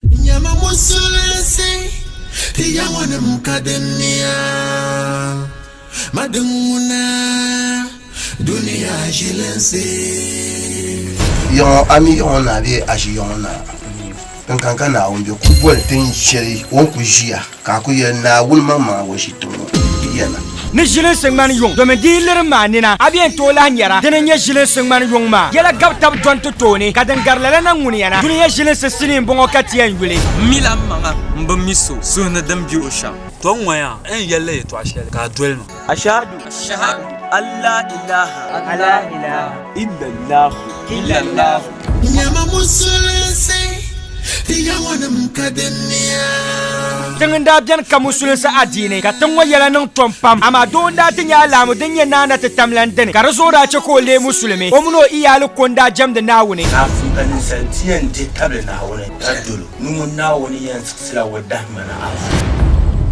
Nyama musulinsi ti ya ŋɔnim ka di niya ma din ŋuna duniya ʒilinsi. Yiɣiŋɔ a mi Yiɣiŋɔ Naa bee a ʒi Yiɣiŋɔ Naa? Din kani ka Naawuni be, ku boli tin shɛli o ni ku ʒiya. Ka a ku yɛli Naawuni maŋmaŋa ŋun shi tiŋ ŋɔ yɛla. Ni ʒilinsi ŋmani yuŋ, domin di yi lirim maa nina, a bi yɛn tooi lahi nyara di ni nyɛ ʒilinsi ŋmani yuŋ maa. Yɛla gabi tab dɔni ti tooni, ka din gari lala na ŋuniya na, dunia ʒilinsi sinii m-bɔŋɔ ka ti yɛn yuli. M mila m maŋa m bi mi so suhu ni din be o shɛm. Tɔ ŋɔya n yɛli la yɛtɔɣ shɛli ka a doli ma. Ashhadu Ashhadu an la ilaha an la ilaha illallah illallah Nyama musulinsi ti yawanim ka din niya. Tiŋ n daa beni ka musulinsi adiini ka tiŋ ŋɔ yɛla niŋ tom pam amaa doo n daa ti nya alahamu din nyɛ naa na ti tam lan dini ka di zuɣu daa chɛ ka o leei musulimi o mini o iyaali ko n daa jɛmdi Naawuni. Laafim ka ninsal bia yɛn di tabili Naawuni ka dol o ni ŋun Naawuni yɛn sila o dahima ni a fu.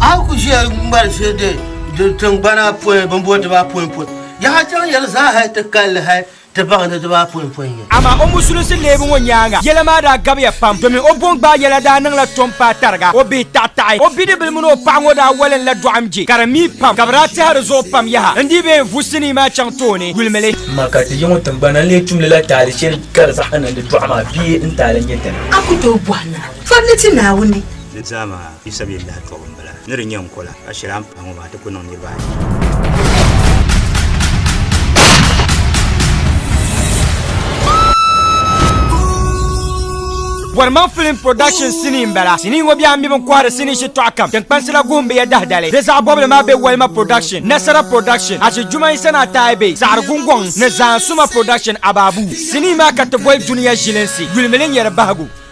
A ku ʒiya ŋmari shili din diri tiŋgbana pɔi bimboli dibaapoinpɔi, yaha chaŋ yɛli zaa hal ti kalli hal ti baŋ ni dibaapoinpɔi n-nyɛ. Amaa o musulinsi leebu ŋɔ nyaaŋa yɛla maa daa gabiya pam domin o bɔngbaai yɛla daa niŋla tom paai tariga o bihi taɣitaɣi. O bidibili mini o paɣa ŋɔ daa walinla dɔɣim je ka di mii pam ka bɛ daa tɛha di zuɣu pam yaha n-dii bee n vu sinii maa chaŋ tooni yulimi li. Amaa ka ti yiŋɔ tiŋgbana n-lee tum lila taali shɛli ka di zaɣa niŋdi dɔɣu maa bee n-taali nyɛ dini? A ku tooi bɔhi na. Pam ni ti Naawuni. Di zaa maa yi sabi yɛn lahi tɔbu m-bala, ni di nyɛ n kola, ka shɛli a ni pahi ŋɔ maa ti ku niŋ niriba ayi. Bɔrima Film Production sinii m-bala. Sinii ŋɔ bɛha mi bɛ ni kɔhiri sinii shitɔɣu kam tiŋkpansila guhimbiya dahidali. Bɛ zaɣ bɔbili maa be Walima Production, Nasara Production, Ashi Juma Isa ni Atayi Bey, Saɣiri Gungɔŋ, ni Zaan Suma Production, Ababu. Sinii maa ka ti boli Dunia Ʒilinsi, Yulimili Nyari Bahigu.